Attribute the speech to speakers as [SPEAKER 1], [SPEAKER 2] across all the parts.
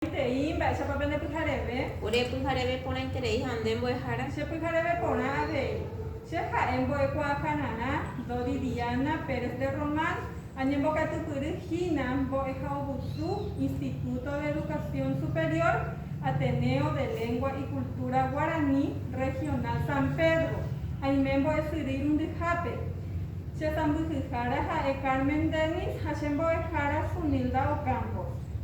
[SPEAKER 1] Añetereíntei mba'éichapa pene pyhareve. Ore pyhareve
[SPEAKER 2] porãiterei ha nde mbo'ehára. Che pyhareve porã
[SPEAKER 1] avei. Che ha'e mbo'ekuaakañarã Dodi Diana Pérez de Román, añembokatypyry hína mbo'ehaovusu Instituto de Educación Superior Ateneo de Lengua y Cultura Guaraní Regional San Pedro, aime mbo'esyry irundyhápe. Che sãmbyhyhára ha'e Carmen Dennis ha che mbo'ehára Sunilda Ocampos.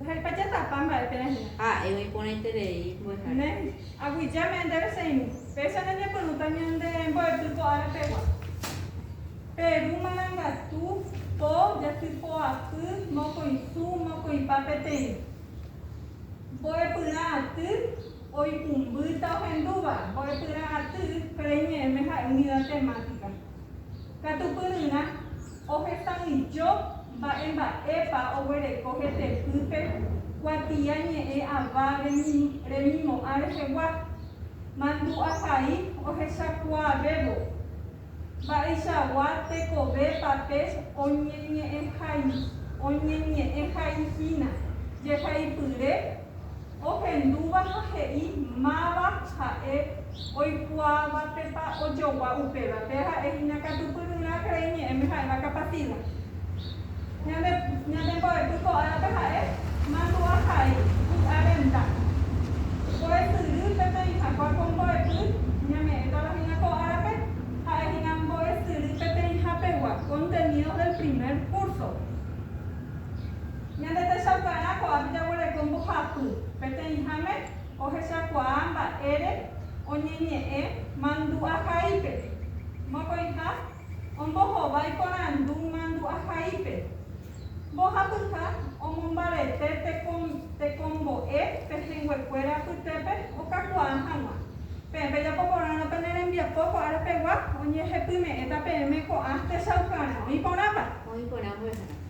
[SPEAKER 2] Ndaha'éipa
[SPEAKER 1] jatapa mba'e térã hína. Ha'e oĩporãiterei
[SPEAKER 2] mbo'ehára. Ne, aguyja
[SPEAKER 1] me'ẽ ndéve che irũ. Péicha ndeñepyrũta ñande mbo'epy ko ára pegua. Pe ru marangatu, po, jasy poapy, mokõi su, mokõipa peteĩ. Mbo'epyrã aty, oipumbýta ohendúva, mbo'epyrã aty, péro iñe'ẽme ha'e unidad temática. Katupyryrã. Ohetãijo mba'emba'épa oguereko hetepýpe kuatia ñe'ẽ ava remimo'ã rehegua, mandu'ahai ohechakuaavévo. Mba'eichagua tekove papél oñeñe'ẽhaihína jehaipyre ohendúva ha he'i máva ha'e oikuaavapepa ojogua upéva. Péa ha'e hína katu pyryrã cree ñe'ẽme ha'éva kapatida. Ñande, ñande mbo'epy ko'árape ha'e mandu'a hai, vy'a renda. Mbo'esyry peteĩ hagua ko mbo'epy ñame'ẽtava hína ko árape, ha'e hína mbo'esyry peteĩ hapegua, contenidos del primer curso. Ñande techaukarã ko'ápe jaguereko mbohapy peteĩháme ohechakuaa mba'ére oñeñe'ẽ mandu'ahaípe. Mokõiha ombohovái porandu mandu'ahaípe. Mbohapyha omombarete tekombo'e pehẽnguekuéra apytépe okakuaa hag̃ua. Peẽ pejapo porãrõ pene rembiapo ko ára pegua, oñehepyme'ẽta peẽme ko'ã techaukarã. Oĩ porãpa? Oĩ porã mbo'ehára.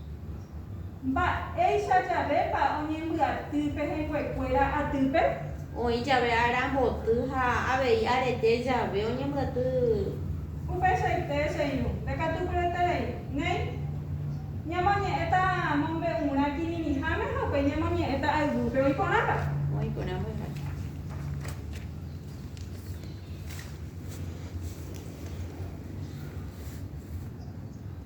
[SPEAKER 1] Mba'éicha javépa oñembyaty pehẽnguekuéra atýpe? Oĩ jave
[SPEAKER 2] ára mboty ha avei arete jave oñembyaty.
[SPEAKER 1] Upeichaite che irũ, ndekatupyreterei. Néi, ñamoñe'ẽta mombe'urã kirirĩháme ha upéi ñamoñe'ẽta ayvúpe. Oĩ porãpa? Oĩ porã mbo'ehára.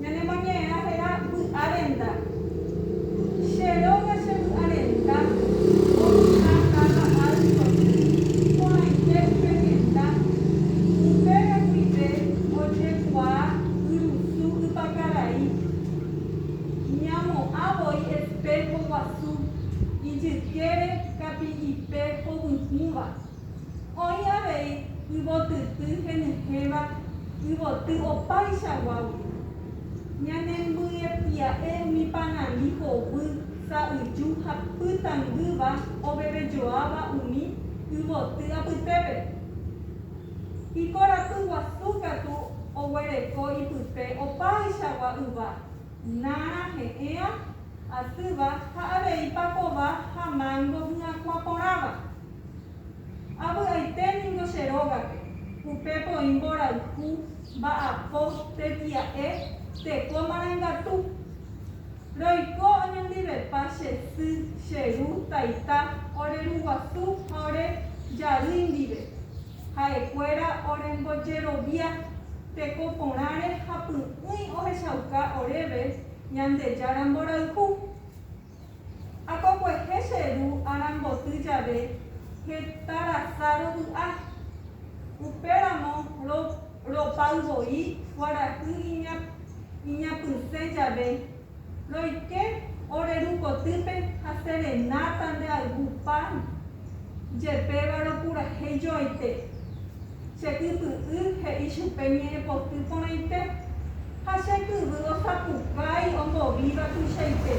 [SPEAKER 1] Ñanemoñe'ẽrã héra vy'arenda. Che róga che vy'arenda oĩha táva áltope, porãite upe henda. Upéva guive ojekuaa yrusu ypakarai. Ñamo'ã voi espého guasu ijykére kapi'ipe hovyũva. Oĩ avei yvotyty henyhẽva yvoty opaichaguágui. Ñanembyepya'e umi panani hovy, sa'yju ha pytangýva ovevejoáva umi yvoty apytépe. Ikorapy guasu katu oguereko ipype opaichagua yva, nára he'ẽva, asýva ha avei pakova ha mángo hyakuã porãva. Avy'aite ningo che rógape, upépe oĩ mborayhu, mba'apo, tetia'e, teko marangatu. Roiko oñondivepa che sy, che ru, taita, ore ru guasu ha ore jarýi ndive. Ha'ekuéra orembojerovia teko porãre ha py'ỹi ohechauka oréve Ñandejára mborayhu. Akokuehe che ru aramboty jave heta rasa rovy'a. Upéramo ropay voi kuarahy iñapysẽ jave, roike ore ru kotýpe ha serenáta ndeayvu pan jepéva ropurahéi joaite. Che ypy'y he'i chupe ñe'ẽpoty porãite, ha che kyvy osapukái ombovíva tuichaite.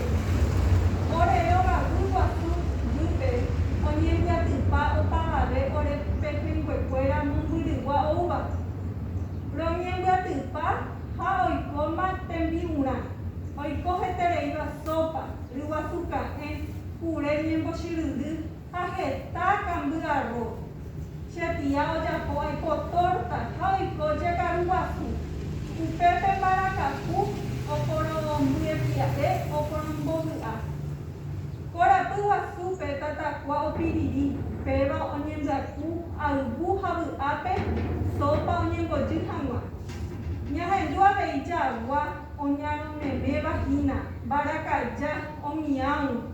[SPEAKER 1] Ore rogaguy guasu jýpe oñembyatypa opavave ore pehẽnguekuéra mombyrygua oúva. Roñembyatypa ha oikóma tembi'urã, oiko hetereíva sópa, ryguasu ka'ẽ, kure ñembochyryrry, ha heta kamby arroz. Che tía ojapo oiko tórta ha oiko jekaru guasu. Upépe mbarakapu oporombyepia'e oporombovy'a. Ko rapy guasúpe tatakua opiriri, péva oñembyaku ayvu ha vy'ápe sópa oñembojy hag̃ua. Ñahendu avei jagua oñaromeméva hína mbarakaja omiãgui.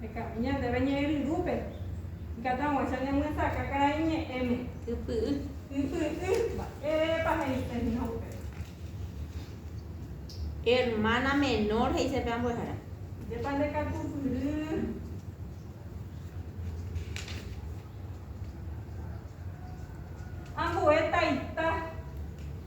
[SPEAKER 1] Hekami ñandéve ñe'ẽ ryrúpe. Ikatãguáicha ñamyesakã karai ñe'ẽme. Ypy'y. Ypy'y. Mba'érepa he'ise hína upéva?
[SPEAKER 2] Hermana menor he'ise pe ambuehara. Ndépa nde
[SPEAKER 1] katupyry. Ambue taita.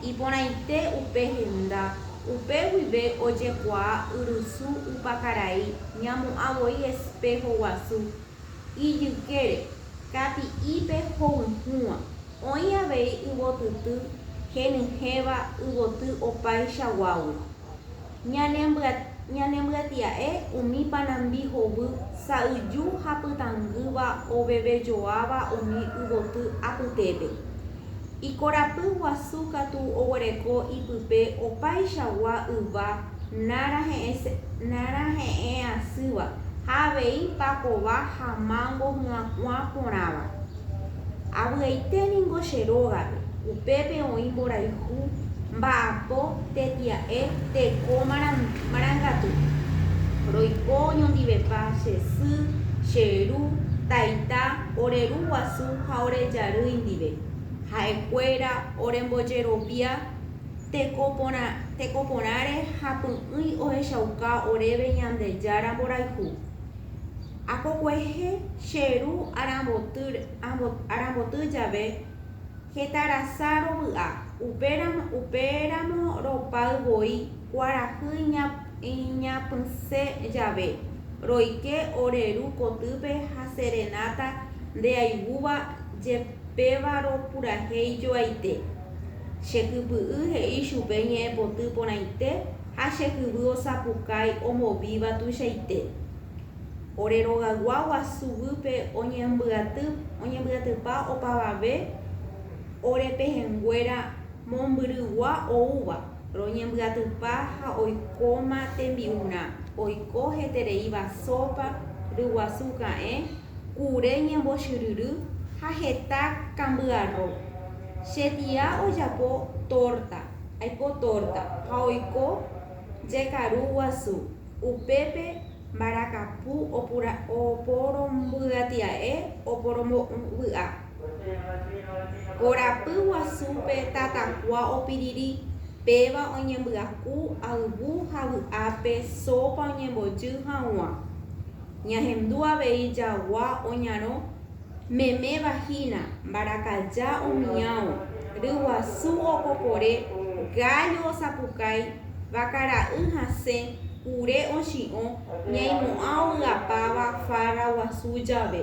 [SPEAKER 2] Iporãite upe henda, upe guive ojekuaa yrysu upa karai ñamu'ã voi espého guasu ijykére, kati'ípe hovyhũva. Oĩ avei yvotyty henyhẽva yvoty opáicha guágui. Ñanembyatya'e umi panambi hovy sa'yju ha pytangýva ovevejoáva umi yvoty apytépe. Ikorapy guasu katu oguereko ipype opaichagua yva nára he'ẽ asýva ha avei pakova ha mango hu'ãkuã porãva. Avy'aite ningo che rógape, upépe oĩ mborayhu, mba'apo, tetia'e, teko marangatu. Roiko oñondivepa che sy, che ru, taita, ore ru guasu ha ore jarýi ndive, ha'e kuéra orembojerovia teko porãre ha py'ỹi ohechauka oréve Ñandejára mborayhu. Akokuehe che ru aramboty jave heta rasa rovy'a, upéramo ropay voi kuarahy iñapysẽ jave, roike ore ru kotýpe ha serenata ndeaigúva jepévarõ purahéi joaite. Che kypy'y he'i chupe ñe'ẽpoty porãite ha che jyvy osapukái omovíva tuichaite. Ore rogagua guasu guýpe oñembyatypa opavave ore pehẽnguéra mombyrygua oúva. roñembyatypa ha oikóma tembi'urã, oiko hetereíva sópa, ryguasu ka'ẽ, kure ñembochyryry ha heta kambyarro. Che tia ojapo tórta, aipo tórta, ha oiko jekaru guasu. Upépe mbarakapu oporombyatia'e oporombo'ỹ vy'a. Korapy guasúpe tatakua opiriri, péva oñembyaku ayvu ha vy'ápe sópa oñembojy haguã. Ñahendu avei jagua oñarõ meméva hína, mbarakaja omiãvo, ryguasu okokore, gállo osapukái, vakara'y hasẽ, kure ochi'õ, ñaimo'ã ovy'apáva farra guasu jave.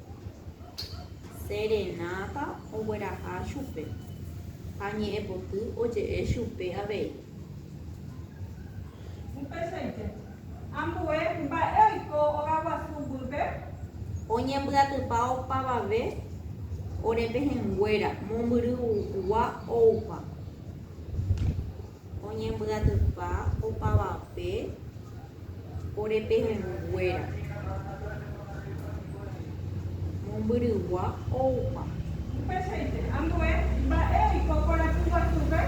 [SPEAKER 2] Serenáta ogueraha chupe ha ñe'ẽpoty oje'e chupe avei. Upeichaite,
[SPEAKER 1] ambue mba'e oiko ogaguasu guýpe.
[SPEAKER 2] Oñembyatypa opavave ore pehẽnguéra, mombyrygua oupa. Oñembyatypa opavape ore pehẽnguéra. Mombyrygua oupa. Upeichaite,
[SPEAKER 1] ambue mba'e oiko korapy guasúpe.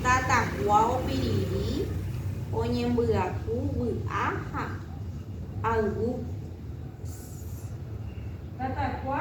[SPEAKER 2] Tatakua opiriri oñembyaku vy'a ha ayvu. Tatakua.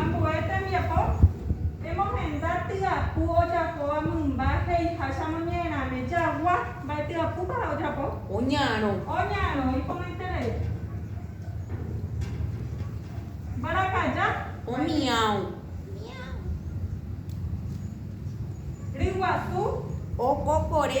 [SPEAKER 1] Ambue tembiapo emohenda tyapu ojapóva mymba he'iháchamo ñe'ẽrame jagua. Mba'e tyapúpa ha ojapo? Oñarõ.
[SPEAKER 2] Oñarõ,
[SPEAKER 1] iporãiterei. Mbarakaja. Omião.
[SPEAKER 2] Mião.
[SPEAKER 1] Ryguasu. Okokore.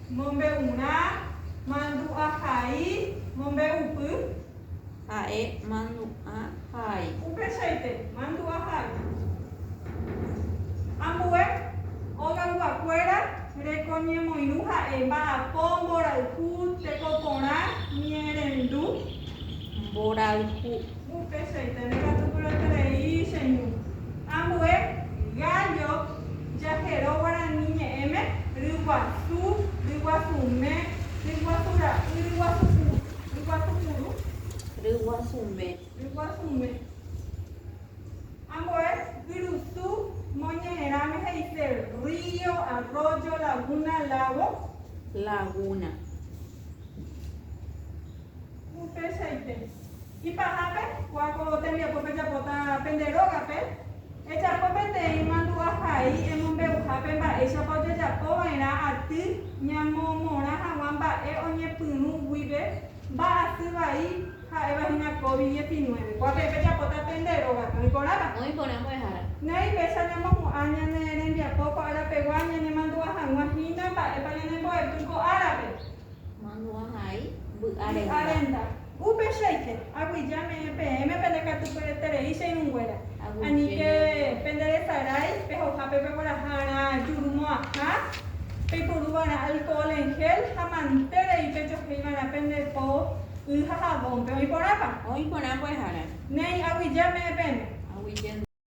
[SPEAKER 1] Mombe'urã, mandu'a hai, mombe'upy.
[SPEAKER 2] Ha'e, mandu'a hai. Upeichaite,
[SPEAKER 1] mandu'a hai. Ambue, ogayguakuéra, reko ñemoirũ ha'e, mba'apo, mborayhu, teko porã, ñerendu.
[SPEAKER 2] Mborayhu.
[SPEAKER 1] Upeichaite ndekatukuroiterei cheñu. Ambue gallo jahero guarani ñe'ẽme, ryguasu, ryguasume, ryguasu ra'y, ryguasu puru, ryguasu puru. Ryguasume. Ryguasume. Ambue yrusu moñe'ẽrãme he'ise río, arroyo, laguna, lago. Laguna. Upéichaite, ipahápe, kua ko tembiapo pejapóta pende rógape, ejapo peteĩ mandu'a hai emombeuhápe mba'éichapa ojejapo va'erã aty ñamomorã hag̃ua mba'e oñepyrũ guive mba'asy vai ha'éva hína Covid dieci nueve. Kua peẽ pejapóta pende rógape. Oĩ porãva? Oĩ porã
[SPEAKER 2] mbo'ehára. Néi péicha ñamohu'ã
[SPEAKER 1] ñane rembiapo ko árapegua ñanemandu'a hag̃ua hína mba'épa ñanembo'epy ko
[SPEAKER 2] árape.
[SPEAKER 1] Mandu'ahai mby'a renda. Upeichaite, aguyje ame'ẽ peẽme pende katupyreterei che irũnguéra. Aníke
[SPEAKER 2] pende
[SPEAKER 1] resarái pehoja pe peguaraha'arã juru mo'ãha, peiporu va'erã alcohol en gel ha mante rei pejohéi va'erã pende po y ha javónpe. Oĩ
[SPEAKER 2] porãpa?
[SPEAKER 1] Oĩ porã
[SPEAKER 2] mbo'ehára. Néi, aguyje
[SPEAKER 1] ame'ẽ peẽme. Aguyje.